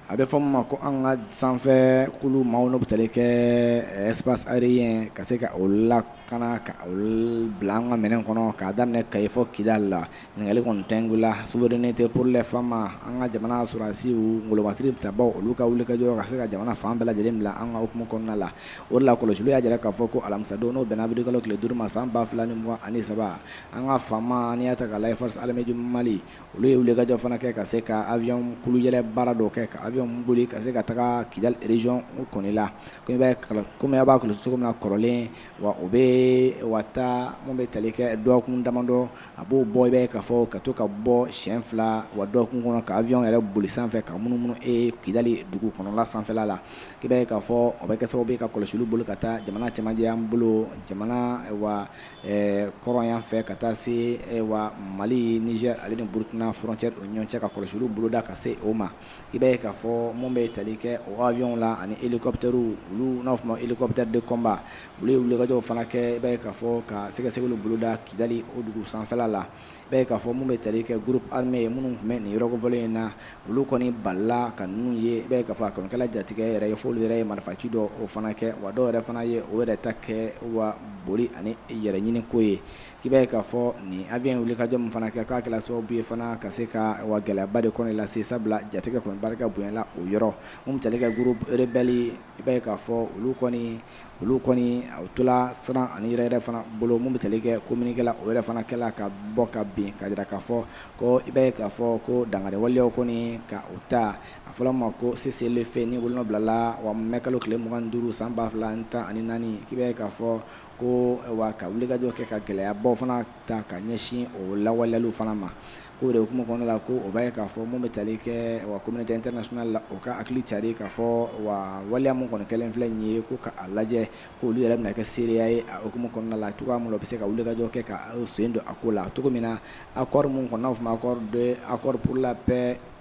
a bɛ fɔ min ma ko an ka sanfɛ kulu maaw n'o bɛ tali kɛ espace aérien ka se ka o lakana ka bila an ka minɛn kɔnɔ ka daminɛ kayi fɔ kidali la ɲininkali kɔni tɛ nin ko la souveraineté pour les FAMa an ka jamana sɔrɔdasiw golobasiri tabaw olu ka wulikajɔ ka se ka jamana fan bɛɛ lajɛlen bila an ka hukumu kɔnɔna la o la kɔlɔsiliw y'a jira k'a fɔ ko alamisadon n'o bɛnna awirili kalo tile duuru ma san ba fila ni mugan ani saba an ka FAMa n'i y'a ta k'a lajɛ forces armées du mali olu ye wulikajɔ fana kɛ ka se ka avion kulu yɛlɛ baara dɔ kɛ ka avion boli ka se ka taga kidali région kɔni la kɔmi a b'a kɔlɔsi cogo min na kɔrɔlen wa o bɛ wa mun bɛ tali kɛ dɔgɔkun damadɔ a b'o bɔ i b'a ye k'a fɔ ka to ka bɔ siɲɛ fila wa dɔgɔkun kɔnɔ ka avion yɛrɛ boli sanfɛ ka munumunu kidali dugu kɔnɔla sanfɛla la i b'a ye k'a fɔ o bɛ kɛ sababu ye ka kɔlɔsiliw bolo ka taa jamana cɛmancɛ yan bolo jamana wa ɛɛ kɔrɔn yan fɛ ka taa se wa mali niger ale ni burukina frontière o ɲɔgɔn cɛ ka kɔlɔsiliw boloda ka se o ma i b'a ye k'a fɔ mun bɛ tali kɛ o avion la ani hélicoptèrew olu n'a fɔ ma hélicoptère de combat olu ye wulikajɔw fana kɛ i b'a ye k'a fɔ ka sɛgɛsɛgɛliw boloda kidali o dugu sanfɛla la b'a ye k'a fɔ mun bɛ tali kɛ groupe armé minnu tun bɛ nin yɔrɔ kofɔlen in na, olu kɔni balila ka ninnu ye, i b'a ye k'a fɔ a kɔni kɛla jatigɛ yɛrɛ ye, f'olu yɛrɛ ye marifaci dɔw fana kɛ, wa dɔw yɛrɛ fana ye o yɛrɛ ta kɛ wa boli ani yɛrɛ ɲini ko ye, k'i b'a ye k'a fɔ nin avion in wulikajɔ min fana kɛ k'a kɛla sababu ye fana ka se ka wa gɛlɛyaba de kɔni lase, sabula jatigɛ kɔni barika bonyana o yɔrɔ, mun bɛ tali kɛ groupe rebelle i b'a ye k'a fɔ olu kɔni olu kɔni u tola siran ani yɛrɛyɛrɛ fana bolo mun bɛ tali kɛ communiqué la o yɛrɛ fana kɛla ka bɔ ka bin ka jira k'a fɔ ko i b'a ye k'a fɔ ko dankari waleyaw kɔni ka u ta a fɔra ma ko cessez-le-feu ni bolonɔ bilala wa mai kalo tile mugan ni duuru san ba fila ani tan ani naani k'i b'a ye k'a fɔ ko wa ka wulikajɔ kɛ ka gɛlɛyabaw fana ta ka ɲɛsin o lawaleyaliw fana ma K'o de hukumu kɔnɔna la ko o b'a ye k'a fɔ mun bɛ tali kɛ wa communauté internationale la o ka hakili cari k'a fɔ wa waleya mun kɔni kɛlen filɛ nin ye k'u ka a lajɛ k'olu yɛrɛ bɛna kɛ seereya ye a hukumu kɔnɔna la cogoya mun na u bɛ se ka wulikajɔ kɛ ka u sen don a ko la cogo min na accord mun kɔni n'a bɛ fɔ ma accord de accord pour la paix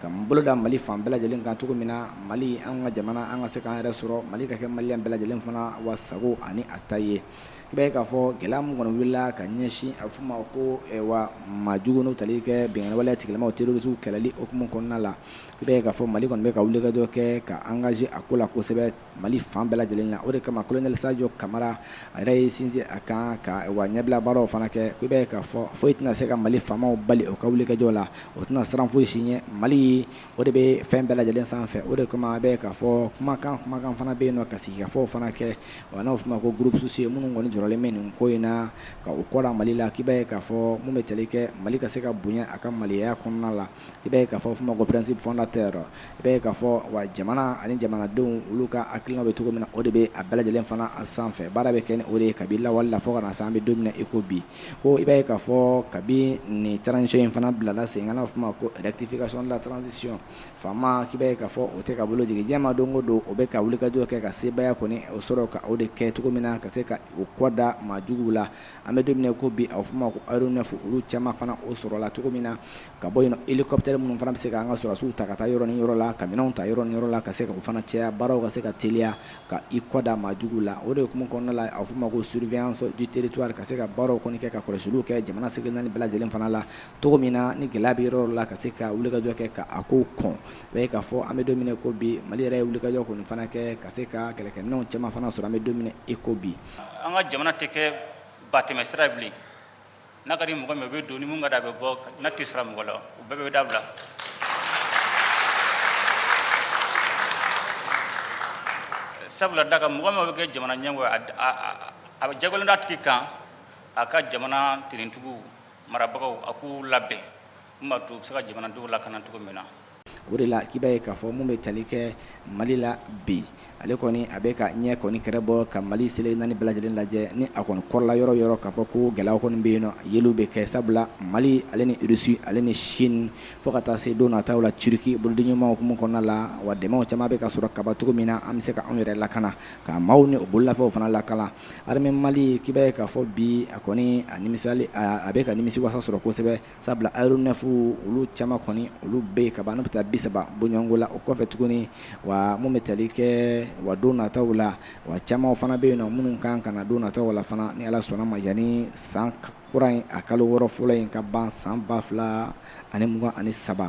ka boloda mali fan bɛɛ lajɛlen kan cogo min na mali an ka jamana an ka se k'an yɛrɛ sɔrɔ mali ka kɛ maliyɛn bɛɛ lajɛlen fana wa sago ani a ta ye i b'a ye k'a fɔ gɛlɛya min kɔni wulila ka ɲɛsin a bɛ fɔ ma ko wa maa jugu n'u tali kɛ binkanni waleya tigilamaw terorisiw kɛlɛli hukumu kɔnɔna la i b'a ye k'a fɔ mali kɔni bɛ ka wulikajɔ kɛ ka engagé a ko la kosɛbɛ Mali fan bɛɛ lajɛlen na o de kama kolonɛli sajɔ kamara a yɛrɛ y'i sinsin a kan ka wa ɲɛbila baaraw fana kɛ i b'a ye k'a fɔ foyi tɛna se ka mali faamaw bali o ka wulikajɔ la o tɛna siran foyi si ɲɛ mali o de bɛ fɛn bɛɛ lajɛlen sanfɛ o de kama i b'a ye k'a fɔ kumakan kumakan fana bɛ yen nɔ ka sigikafɔ fana kɛ wa n'a fɔ ma ko groupe sociaux minnu kɔni jɔrɔlen bɛ nin ko in na ka u kɔrɔ mali la k'i b'a ye k'a fɔ mun bɛ tali kɛ mali ka se ka bonya a ka maliya kɔnɔna la i b'a ye k'a fɔ ma ko principe fondateur i b'a ye k'a fɔ wa jamana ani jamanadenw olu ka hakilina bɛ cogo min na o de bɛ a bɛɛ lajɛlen fana a sanfɛ baara bɛ kɛ ni o de ye kabi lawale la fo ka na se an bɛ don min na i ko bi ko i b'a ye k'a fɔ kabi nin transition in fana bilala sen kan n'a fɔ ma ko rectification de la transition FAMa k'i b'a ye k'a fɔ o tɛ ka bolo jigin diɲɛ ma don o don o bɛ ka wulikajɔ kɛ ka sebaaya kɔni o sɔrɔ ka o de kɛ cogo min na ka se ka u kɔda maajugu la an bɛ don min na ko bi a bɛ fɔ ma ko aéronef olu caman fana o sɔrɔla cogo min na ka bɔ yen hélicoptère minnu fana bɛ se ka an ka sɔrɔdasiw ta ka taa yɔrɔ ni yɔrɔ la ka minɛnw ta yɔrɔ ni yɔrɔ la ka se ka u fana cɛ a baaraw ka se ka teliya ka i kɔda maajuguw la o de hukumu kɔnɔna la a bɛ fɔ ma ko surveillance du territoire ka se ka baaraw kɔni kɛ ka kɔlɔsiliw kɛ jamana seleke naani bɛɛ lajɛlen fana la cogo min na ni gɛlɛya bɛ yɔrɔ la ka se ka wulikajɔ kɛ ka a ko kɔn i b'a ye k'a fɔ an bɛ don min na ko bi mali yɛrɛ ye wulikajɔ kɔni fana kɛ ka se ka kɛlɛkɛminɛnw caman fana sɔrɔ an bɛ don min na i ko bi an ka jamana tɛ kɛ batɛmɛ sira bilen n'a ka di mɔgɔ min o bɛ don ni mun ka da a bɛ bɔ n'a t'i sara mɔgɔ la o bɛɛ bɛ dabila sabula da ka mɔgɔ min bɛ kɛ jamana ɲɛmɔgɔ ye a bɛ jagoyalen d'a tigi kan a ka jamana finitigiw marabagaw a k'u labɛn Bɛ se ka jamanadenw lakana cogo min na o de la k'i b'a ye k'a fɔ mun bɛ tali kɛ mali la bi ale kɔni a bɛ ka ɲɛ kɔni kɛrɛ bɔ ka mali seleke naani bɛɛ lajɛlen lajɛ ni a kɔni kɔrɔla yɔrɔ yɔrɔ k'a fɔ ko gɛlɛyaw kɔni bɛ yen yeliw bɛ kɛ sabula mali ale ni russie ale ni chine fo ka taa se don nataw la turki boloden ɲumanw hukumu kɔnɔna la wa dɛmɛw caman bɛ ka sɔrɔ ka ban cogo min na an bɛ se ka anw yɛrɛ lakana ka maaw ni o bololafɛnw fana lakana armée mali k'i b'a ye k'a fɔ bi a kɔni a a bɛ ka nimisiwasa sɔrɔ kosɛbɛ sabula aéronef olu caman kɔni olu bɛ yen ka ban n'u bɛ taa bi saba bɔɲɔgɔnko la o kɔfɛ tuguni wa mun bɛ tali kɛ wa don nataw la wa caman fana bɛ yen na minnu kan ka na don nataw la fana ni ala sɔnna ma yanni san kura in a kalo wɔɔrɔ fɔlɔ in ka ban san ba fila ani mugan ani saba